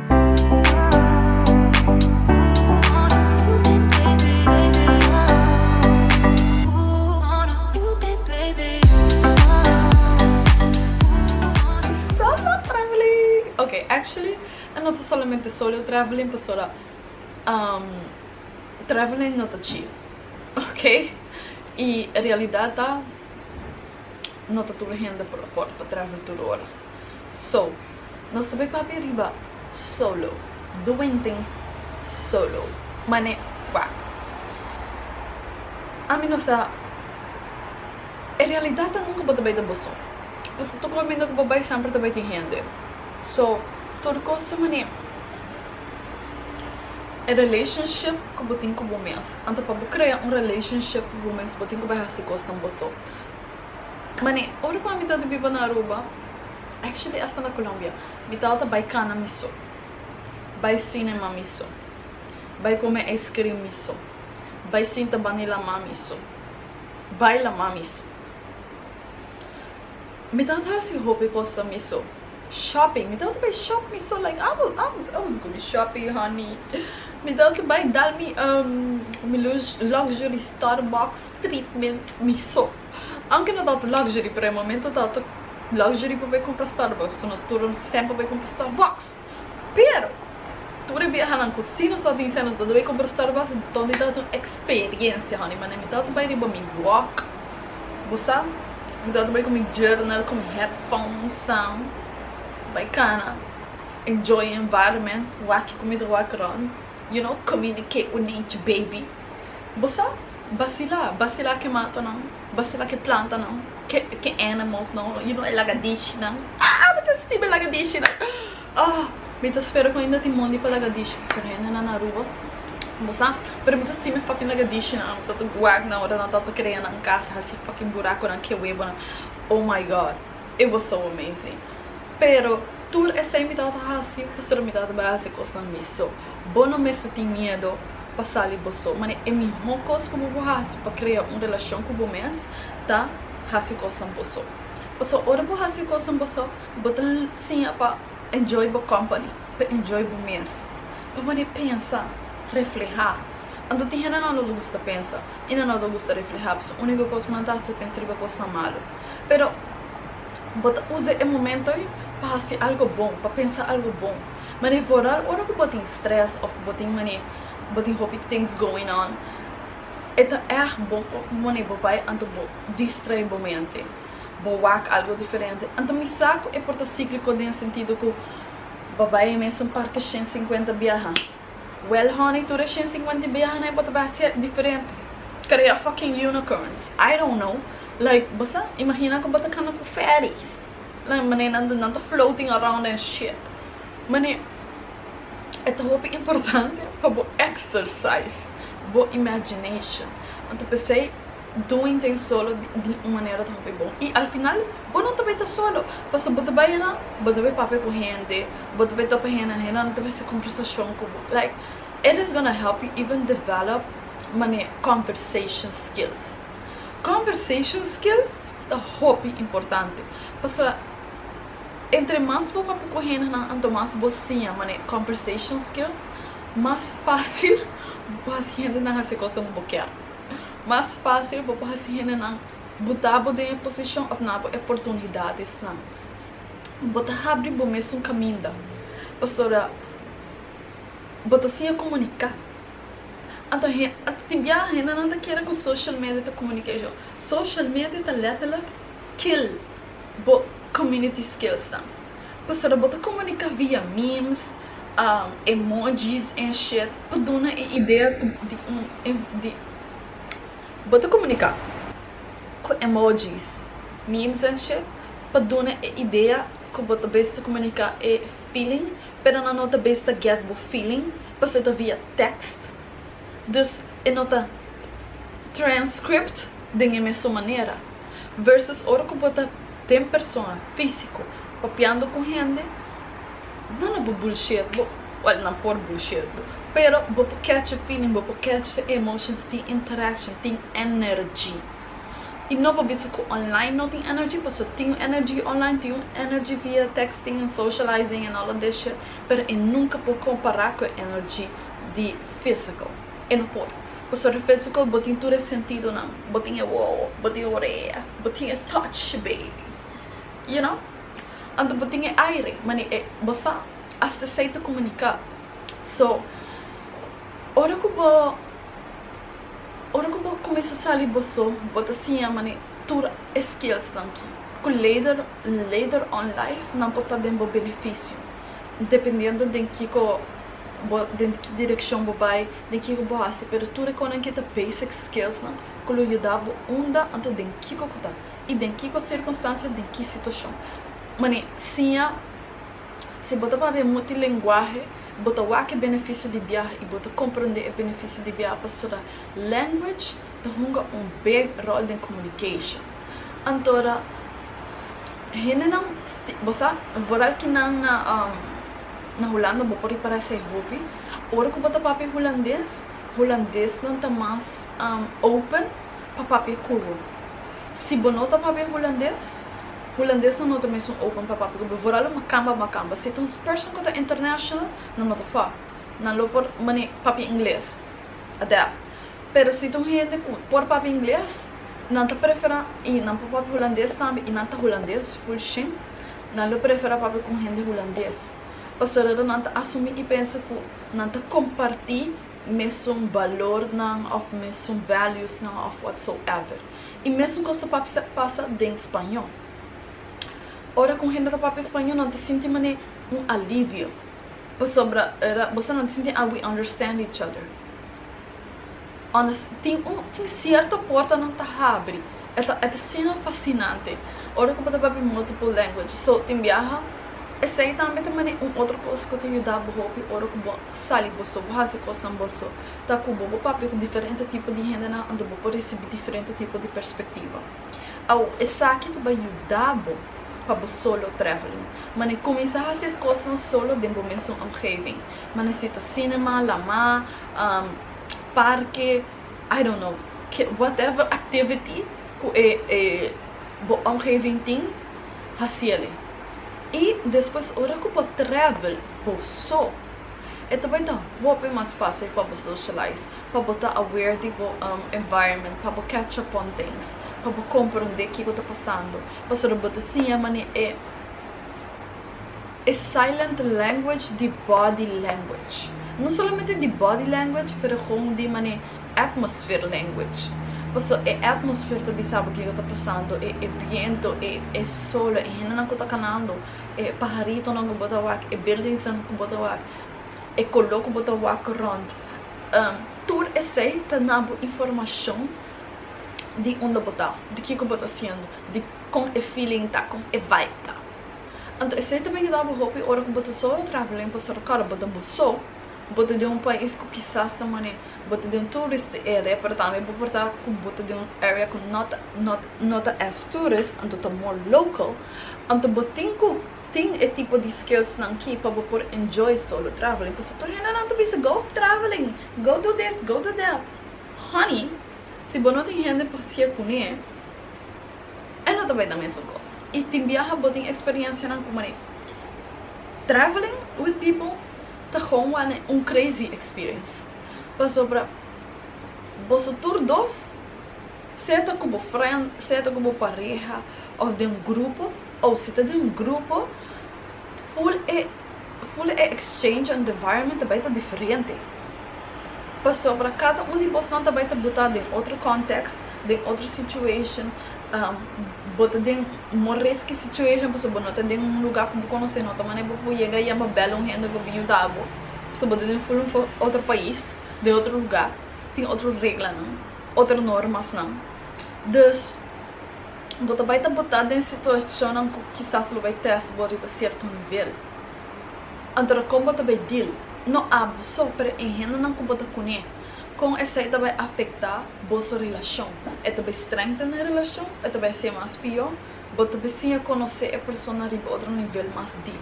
Solo traveling ok actually a no ta solamente solo traveling pasobra um traveling no ta chill ok y realidad ta no ta tur hende por afort pa travel tur ora. So, nos ta bay papia riba solo, doing things solo. Mane wak. Ami no sa, e realidad ta nunca bo ta bay den boso. Bo ta toca oiminda cu bo bay semper ta bay tin hende. So, tur cos ta mane. E relationship cu bo tin cu bo mes, anto pa bo crea un relationship cu bo mes, bo tin cu bay haci cosnan boso. Mane, ora ku ami tabata biba na Aruba, actually asta na Colombia, mi tabata bai kana mi so, bai cinema mi so, bai come ice cream mi so, bai sinta bani lama mi so, bai lama mi so. Mi tabata hasi hopi cosa mi so. Shopping, mi tabata bai shop mi so, like abo, abo, abo ta komi shopping honey. Mi tabata bai dal mi, um, mi lux, luxury Starbucks. treatment mi so aunke no tanto luxury pero e momento tanto luxury pa bai compra starbucks so no tur nos tempo bai compra starbucks pero tur e biahanan cu si nos ta tin seno nos ta debe compra starbucks enton mi ta tin experiencia honey manera mi ta bai riba mi walk bo sa mi ta bai cu mi journal cu mi headphones nan bai cana enjoy e environment wak cu mi ta wak rond you know communicate with nature baby. Bo sa, basila, basila ke matanan, basila ke plantanan, ke, ke animals no, you know e lagadichinan, ah, mi ta sinti mi lagadichinan, ah, mi ta spera ku ainda tin mondi pa lagadichi ku ser hendenan na Aruba, bo sa, pero mi ta sinti mi fucking lagadichinan, mi ta ta guak nan ora nan ta ta kere nan kasa hasi fucking burakonan, ke webonan, oh my god. e boso bo mesen. Pero tur esei mi tabata hasi pasobra mi tabata bai hasi kosnan mi. So, bo no mester tin miedu pa sali boso. Manera e mihó kos ku bo por hasi pa krea un relashon ku bo mes ta hasi kosnan boso. Pasobra ora bo hasi kosnan boso, bo ta siña pa enjoy bo kòmpani, pa enjoy bo mes. Bo mane pensa, reflehá. Anto tin hendenan lo ta gusta pensa i nan lo ta gusta reflehá pasobra úniko kos ku nan ta hasi ta pensa riba kosnan malu. Pero bo ta usa e momento ei pa hasi algo bon, pa pensa algo bon. Manera vooral ora ku bo tin stress of bo tin mane bo tin hopi things going on, e ta erg bon wanneer bo bai anto bo distrae bo mente, bo wak algo diferente. Anto mi sa ku e por ta cíclico den e sentido ku bo bai e mesun parke shen cincuenta biaha. Well honey tur e shen cincuenta y biaha nai bo ta bai siet diferente crea fucking unicorns I don't know like bo sa imagina cu bo ta cana cu fairies like manera nan ta nan ta floating around den shit mane e ta hopi importante pa bo exercise bo imagination anto pesey. Doing tin solo di un manera ta hopi bon i al final bo no ta bay ta solo pasobra bo ta bay anan bo ta bay papia cu hende bo ta bay topa hende and hendenan ta bay haci conversacion cu bo like it is gonna help you even develop mane conversation skills conversation skills ta hopi importante pasobra entre mas bo papia cu hendenan anto mas bo siña mane conversation skills mas facil bo haci hendenan haci e cosnan cu bo kier. Mas fásil bo por hasi hendenan buta bo den e posishon òf na bo e oportunidadesnan. Bo ta habri bo mes un kaminda pasobra bo ta siña komuniká. Anto he, tin bia hendenan ta kere ku social media ta communication. Social media ta letterlijk kill bo community skillsnan. pasobra bo ta komunika via memes, emojis en shit pa duna e idea di un di bo ta komunika ku emojis, memes en shit pa duna e idea ku bo ta bes ta komunika e feeling pero nan no ta bes ta gèt bo feeling pasobra ta via tèkst Dus e no ta transcript den e mesun manera. Versus ora ku bo ta den persona, físiko, papiando ku hende, nan lo por bulshiet bo, wèl nan por bulshiet bo, pero bo por kèch e feeling, bo por kèch e emotions, tin interaction, tin energy. I no por bisa ku online no tin energy, pasobra tin un energy online, tin un energy via texting and socializing and all of that shit, pero e nunka por kompará ku e energy. di physical en hoy pasobra di physical bo tin tur e sentidonan bo tin e wowo bo tin e orea bo tin e touch baby you know anto bo tin e aire mane e bo sa hasta esei ta comunica so ora cu bo ora cu bo cuminsa sali bo so bo ta siña mane tur e skills nan ki cu later later on life nan por ta den bo beneficio dependiendo den kico. bo den ki direkshon bo bai, den kiko bo hasi, pero tur e konan kita basic skills nan ku lo yuda bo unda, anto den kiko ku ta, i den kiko sirkunstansia, den ki situashon. Mane siña, si bo ta papia e multilenguahe bo ta wak e benefisio di biaha i bo ta komprende e benefisio di biaha pasobra language, ta hunga un big rol den communication. Antora hendenan sti, bo sa, vooral kinan na na Hulanda bo por ripara esei hopi, ora ku bo ta papia Hulandes, Hulandesnan ta mas open pa papia ku bo. Si bo no ta papia Hulandes, Hulandesnan no ta mesun open pa papia ku bo, vooral lo makamba makamba. Si ta un person ku ta international, nan no ta fo, nan lo por mane papia Ingles, adapt. Pero si ta un hende ku por papia ingles, nan ta preferá, i nan por papia hulandes tambe, i nan ta hulandes ful shen, nan lo preferá papia ku un hende hulandes, pasobra nan ta asumí i pensa ku nan ta kompartí mesun balornan òf mesun valuesnan òf whatsoever. I mesun kos ta pasa den spañó. Ora ku un hende ta papia spañó nan ta sinti manera un alivio, pasobra boso nan ta sinti ah we understand each other. Honest, tin un, tin cierto porta nan ta habri, e ta, e ta sinan fascinante, ora cu bo ta papia multiple languages. So, tin biaha, esey tambe ta mane un otro cosa cu ta yuda bo hopi ora cu bo sali bo so, bo haci cosnan bo so, ta cu bo bo papia cu diferente tipo di hendenan anto bo por ricibi diferente tipo di perspectiva. Awo, esaki ta bay yuda bo pa bo solo traveling, mane cuminsa haci e cosnan solo den bo mesun omgeving, mane si ta cinema, lama, um, parke, I don't know, ke whatever activity ku e e bo omgeving tin, hasiel e. I despues ora ku bo travel bo so, e ta bai ta hopi mas fásil pa bo socialize, pa bo ta aware di bo um environment, pa bo catch up on things, pa bo komprondé kiko ta pasando, pasobra bo ta siña manera e. E silent language di body language. No solamente di body language pero kon di mane atmosphere language. Paso e atmosphere ta bisa bo kiko ta pasando, e e biento, e e solo, e hendenan ku ta kanando, e paharitonan ku bo ta wak, e buildingsnan ku bo ta wak, e koló ku bo ta wak rònt. Tur esei ta na bo informashon di unda bo ta, di kiko bo ta hasiendo, di kon e feeling ta, kon e vibe ta. Anto esei ta por yuda bo hopi ora ku bo ta solo trahá len Costa Rica. Ora bo ta bo so, bo ta den un pais ku kisas ta manera bo ta den un tourist area, pero tambe bo por ta ku bo ta den un area ku no ta no no ta as tourist, anto ta more local. Anto bo tin ku tin e tipo di skillsnan aki pa bo por enjoy solo traveling. Pasobra tur hendenan ta bisa go traveling, go do this, go do that. Honey, si bo no tin hende pa hacié kuné. E no ta bai na mesun kos. I tin biaha bo tin eksperiencianan ku Marie. Traveling with people ta gewoon wane un crazy experience. Pasobra boso tur dos, sea ta ku bo friend, sea ta ku bo pareha, of den un grupo, o si ta den un grupo, Full e full e exchange and environment ta bai ta diferente pasobra cada un di bosnan ta bai ta buta den otro context den otro situation bo ta den more risky situation pasobra bo no ta den un lugar cu bo conoce no ta manera bo por yega allá pa bela un hende pa yuda bo pasobra bo ta den full un otro pais den otro lugar tin otro reglanan otro normasnan dus. Bo ta bai ta botá den situashonnan ku kisas lo bai tèst bo riba sierto nivel. Anto ta kon bo ta bai dil? No abo so, pero e hendenan ku bo ta kuné, kon esei ta bai afektá boso relashon? E ta bai strengthen e relashon o e ta bai hasié mas pió? Bo ta bai siña konosé e persona riba otro nivel mas dip.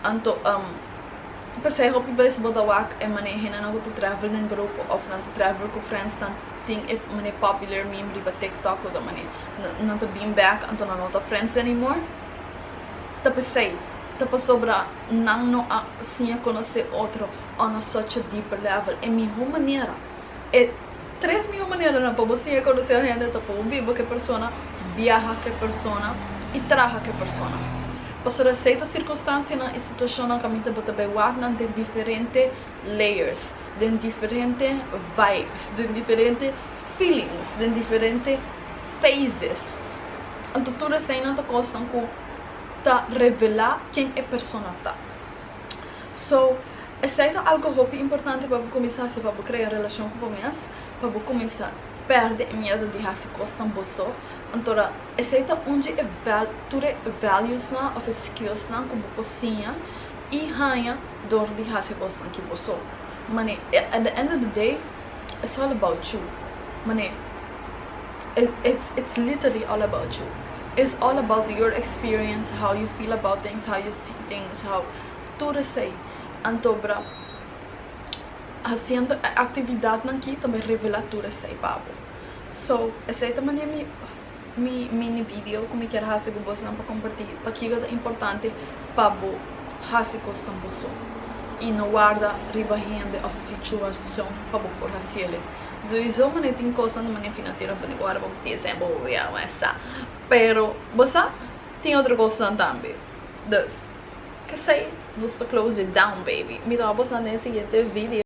Anto um p'esei hopi bes bo ta wak e manera henannan ku ta travel den grupo òf nan ta travel ku friendsnan tin e manera popular mim riba TikTok ota manera. Nan ta bin bèk anto nan no ta friends anymore. Ta p'esei, ta pasobra nan no a siña konosé otro on a such a deeper level. E mihó manera. E tres miho maneranan pa bo siña konosé un hende ta pa bo biba ku e persona, biaha ku e persona i traha ku e persona. Pasobra esei ta sirkunstansianan i situashonnan ku a mita bo ta bai wak nan den diferente layers, den diferente vibes, den diferente feelings, den diferente phases. Anto tur eseinan ta kosnan ku ta revelá ken e persona ta. So, esei ta algo hopi importante pa bo kuminsá hasi, pa bo krea relashon ku bo mes, pa bo kuminsá pèrdè e miedu di hasi kosnan bo so. Antora, esei ta un di e tur e valuesnan òf e skillsnan ku bo por siña i haña dor di hasi kosnan ki bo so. Mane, at the end of the day, it's all about you. Mane. It's literally all about you It's all about your experience how you feel about things how you see things how tur esey antobra haciendo e actividadnan ki ta bin revela tur esey pa bo so esey ta manera mi mi mini video cu mi kier haci cu bosnan pa comparti pakico ta importante pa bo haci cosnan boso y no warda riba hende of situacion pa bo por haciele. Souiso mane tin cosnan di mane financiero pone cu ahora bo piensa bo bo ya wens sa pero bo sa tin otro cosnan tambe dus kesey nos ta close it down baby mi ta wou pasan den siguiente video.